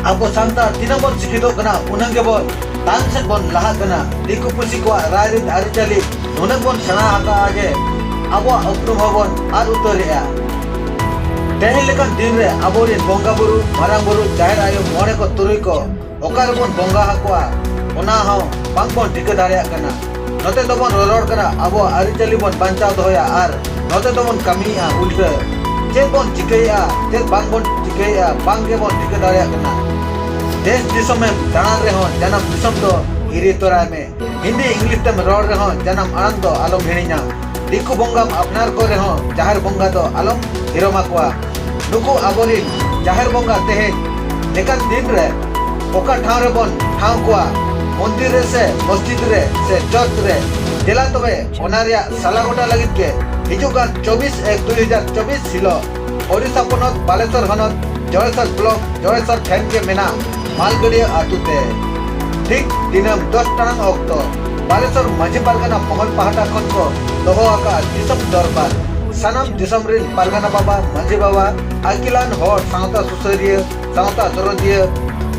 ᱟᱵᱚ ᱥᱟᱱᱛᱟᱲ ᱛᱤᱱᱟᱹᱜ ᱵᱚᱱ ᱥᱤᱠᱷᱤᱛᱚᱜ ᱠᱟᱱᱟ ᱩᱱᱟᱹᱜ ᱜᱮᱵᱚᱱ ᱛᱟᱭᱚᱢ ᱥᱮᱫ ᱵᱚᱱ ᱞᱟᱦᱟᱜ ᱠᱟᱱᱟ ᱫᱤᱠᱩ ᱯᱩᱥᱤ ᱠᱚᱣᱟᱜ ᱨᱟᱭᱨᱤᱛ ᱟᱹᱨᱤᱪᱟᱹᱞᱤ ᱱᱩᱱᱟᱹᱜ ᱵᱚᱱ ᱥᱮᱬᱟ ᱟᱠᱟᱫᱼᱟ ᱡᱮ ᱟᱵᱚᱣᱟᱜ ᱩᱯᱨᱩᱢ ᱦᱚᱸᱵᱚᱱ ᱟᱫ ᱩᱛᱟᱹᱨᱮᱜᱼᱟ ᱛᱮᱦᱮᱧ ᱞᱮᱠᱟᱱ ᱫᱤᱱ ᱨᱮ ᱟᱵᱚᱨᱮᱱ ᱵᱚᱸᱜᱟ ᱵᱩᱨᱩ ᱢᱟᱨᱟᱝ ᱵᱩᱨᱩ ᱡᱟᱦᱮᱨ ᱟᱭᱳ ᱢᱚᱬᱮ ᱠᱚ ᱛᱩᱨᱩᱭ ᱠᱚ ᱚᱠᱟ ᱨᱮᱵᱚᱱ ᱵᱚᱸᱜᱟ ᱟᱠᱚᱣᱟ ᱚᱱᱟ ᱦᱚᱸ ᱵᱟᱝ ᱵᱚᱱ ᱴᱷᱤᱠᱟᱹ ᱫᱟᱲᱮᱭᱟᱜ ᱠᱟᱱᱟ ᱱᱚᱛᱮ ᱫᱚᱵᱚᱱ ᱨᱚᱨᱚᱲ ᱠᱟᱱᱟ ᱟᱵᱚᱣᱟᱜ ᱟᱹᱨᱤᱪᱟᱹᱞᱤ ᱵᱚᱱ ᱵᱟᱧᱪᱟᱣ ᱫᱚᱦᱚᱭᱟ ᱟᱨ ᱱᱚᱛᱮ ᱫᱚᱵᱚᱱ ᱠᱟᱹᱢᱤᱭᱮᱫᱼᱟ ᱩᱞᱴᱟᱹ ᱪᱮᱫ ᱵᱚᱱ ᱪᱤᱠᱟᱹᱭᱮᱫᱼᱟ ᱪᱮᱫ ᱵᱟᱝ ᱵᱚᱱ ᱪᱤᱠᱟᱹᱭᱮᱫᱼᱟ ᱵᱟᱝ ᱜᱮᱵᱚᱱ ᱴᱷᱤᱠᱟᱹ ᱫᱟᱲᱮᱭᱟᱜ ᱠᱟᱱᱟ ᱫᱮᱥ ᱫᱤᱥᱚᱢᱮᱢ ᱫᱟᱬᱟᱱ ᱨᱮᱦᱚᱸ ᱡᱟᱱᱟᱢ ᱫᱤᱥᱚᱢ ᱫᱚ ᱦᱤᱨᱤ ᱛᱚᱨᱟᱭ ᱢᱮ ᱦᱤᱱᱫᱤ ᱤᱝᱞᱤᱥ ᱛᱮᱢ ᱨᱚᱲ ᱨᱮᱦᱚᱸ ᱡᱟᱱᱟᱢ ᱟᱲᱟᱝ ᱫᱚ ᱟᱞᱚᱢ ᱦᱤᱲᱤᱧᱟ ᱫᱤᱠᱩ ᱵᱚᱸᱜᱟᱢ ᱟᱯᱱᱟᱨ ᱠᱚ ᱨᱮᱦᱚᱸ ᱡᱟᱦᱮᱨ ᱵᱚᱸᱜᱟ ᱫᱚ ᱟᱞᱚᱢ ᱦᱤᱨᱚᱢ ᱟᱠᱚᱣᱟ ᱱᱩᱠᱩ ᱟᱵᱚᱨᱤᱱ ᱡᱟᱦᱮᱨ ᱵᱚᱸᱜᱟ ᱛᱮᱦᱮᱧ ᱞᱮᱠᱟᱱ ᱫᱤᱱ ᱨᱮ ᱚᱠᱟ ᱴᱷᱟᱶ ᱨᱮᱵᱚᱱ ᱴᱷᱟᱶ ᱠᱚᱣᱟ ᱢᱚᱱᱫᱤᱨ ᱨᱮ ᱥᱮ ᱢᱚᱥᱡᱤᱫ ᱨᱮ ᱥᱮ ᱪᱚᱨᱪ ᱨᱮ ᱫᱮᱞᱟ ᱛᱚᱵᱮ ᱚᱱᱟ ᱨᱮᱭᱟᱜ ᱥᱟᱞᱟ ᱜᱚᱴᱟ ᱞᱟᱹᱜᱤᱫ ᱜᱮ ᱦᱤᱡᱩᱜ ᱠᱟᱱ ᱪᱚᱵᱵᱤᱥ ᱮᱠ ᱫᱩᱭ ᱦᱟᱡᱟᱨ ᱪᱚᱵᱵᱤᱥ ᱦᱤᱞᱚᱜ ᱳᱰᱤᱥᱟ ᱯᱚᱱᱚᱛ ᱵᱟᱞᱮᱥᱚᱨ ᱦᱚᱱᱚᱛ ᱡᱚᱲᱮᱥᱚᱨ ᱵᱞᱚᱠ ᱡᱚᱲᱮᱥᱚᱨ ᱴᱷᱮᱱ ᱜᱮ ᱢᱮᱱᱟᱜ ᱢᱟᱞᱜᱟᱹᱰᱤᱭᱟᱹ ᱟᱹᱛᱩ ᱛᱮ ᱴᱷᱤᱠ ᱫᱤᱱᱟᱹᱢ ᱫᱚᱥ ᱴᱟᱲᱟᱝ ᱚᱠᱛᱚ ᱵᱟᱞᱮᱥᱚᱨ ᱢᱟᱹᱡᱷᱤ ᱯᱟᱨᱜᱟᱱᱟ ᱢᱚᱦᱚᱞ ᱯᱟᱦᱴᱟ ᱠᱷᱚᱱ ᱠᱚ ᱫᱚᱦᱚ ᱟᱠᱟᱫ ᱫᱤᱥᱚᱢ ᱫᱚᱨᱵᱟᱨ ᱥᱟᱱᱟᱢ ᱫᱤᱥᱚᱢ ᱨᱤᱱ ᱯᱟᱨᱜᱟᱱᱟ ᱵᱟᱵᱟ ᱢᱟᱹᱡᱷᱤ ᱵᱟᱵᱟ ᱟᱹᱠᱤᱞᱟᱱ ᱦᱚᱲ ᱥᱟᱶᱛᱟ ᱥᱩᱥᱟᱹᱨᱤᱭᱟᱹ ᱥᱟᱶᱛᱟ ᱫᱚᱨᱚᱫᱤᱭᱟᱹ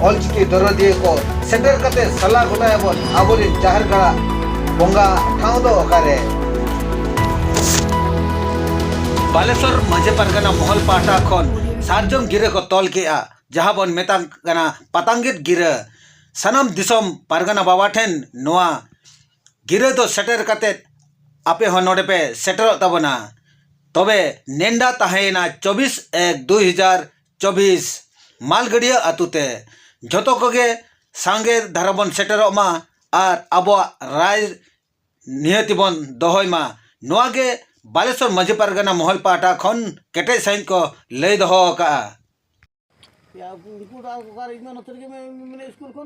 ᱚᱞᱪᱤᱠᱤ ᱫᱚᱨᱚᱫᱤᱭᱟᱹ ᱠᱚ ᱥᱮᱴᱮᱨ ᱠᱟᱛᱮ ᱥᱟᱞᱟ ᱜᱚᱴᱟᱭᱟᱵᱚᱱ ᱟᱵᱚᱨᱮᱱ ᱡᱟᱦᱮᱨ ᱜᱟᱲᱟ ᱵᱚᱸᱜᱟ ᱴᱷᱟᱶ ᱫᱚ ᱚᱠᱟᱨᱮ ᱵᱟᱞᱮᱥᱚᱨ ᱢᱟᱹᱡᱷᱤ ᱯᱟᱨᱜᱟᱱᱟ ᱢᱚᱦᱚᱞ ᱯᱟᱦᱴᱟ ᱠᱷᱚᱱ ᱥᱟᱨᱡᱚᱢ ᱜᱤᱨᱟᱹ ᱠᱚ ᱛᱚᱞ ᱠᱮᱜᱼᱟ ᱡᱟᱦᱟᱸ ᱵᱚᱱ ᱢᱮᱛᱟᱜ ᱠᱟᱱᱟ ᱯᱟᱛᱟᱝᱜᱤᱛ ᱜᱤᱨᱟᱹ ᱥᱟᱱᱟᱢ ᱫᱤᱥᱚᱢ ᱯᱟᱨᱜᱟᱱᱟ ᱵᱟᱵᱟ ᱴᱷᱮᱱ ᱱᱚᱣᱟ ᱜᱤᱨᱟᱹ ᱫᱚ ᱥᱮᱴᱮᱨ ᱠᱟᱛᱮ ᱟᱯᱮ ᱦᱚᱸ ᱱᱚᱰᱮ ᱯᱮ ᱥᱮᱴᱮᱨᱚᱜ ᱛᱟᱵᱚᱱᱟ ᱛᱚᱵᱮ ᱱᱮᱰᱟ ᱛᱟᱦᱮᱸᱭᱮᱱᱟ ᱪᱚᱵᱵᱤᱥ ᱮᱠ ᱫᱩᱭ ᱦᱟᱡᱟᱨ ᱪᱚᱵᱽᱵᱤᱥ ᱢᱟᱞᱜᱟᱹᱰᱭᱟᱹ ᱟᱹᱛᱩ ᱛᱮ ᱡᱷᱚᱛᱚ ᱠᱚᱜᱮ ᱥᱟᱸᱜᱮ ᱫᱷᱟᱨᱟ ᱵᱚᱱ ᱥᱮᱴᱮᱨᱚᱜ ᱢᱟ ᱟᱨ ᱟᱵᱚᱣᱟᱜ ᱨᱟᱭ ᱱᱤᱦᱟᱹᱛᱤ ᱵᱚᱱ ᱫᱚᱦᱚᱭ ᱢᱟ ᱱᱚᱣᱟ ᱜᱮ ᱵᱟᱞᱮᱥᱚᱨ ᱢᱟᱹᱡᱷᱤ ᱯᱟᱨᱜᱟᱱᱟ ᱢᱚᱦᱚᱞ ᱯᱟᱦᱴᱟ ᱠᱷᱚᱱ ᱠᱮᱴᱮᱡ ᱥᱟᱺᱦᱤᱡ ᱠᱚ ᱞᱟᱹᱭ ᱫᱚᱦᱚ ᱟᱠᱟᱫᱼᱟ ᱩᱱᱠᱩ ᱫᱚ ᱚᱠᱟᱨᱮ ᱤᱧ ᱫᱚ ᱱᱚᱛᱮ ᱨᱮᱜᱮ ᱢᱮᱱᱟᱜᱼᱟ ᱥᱠᱩᱞ ᱠᱷᱚᱱ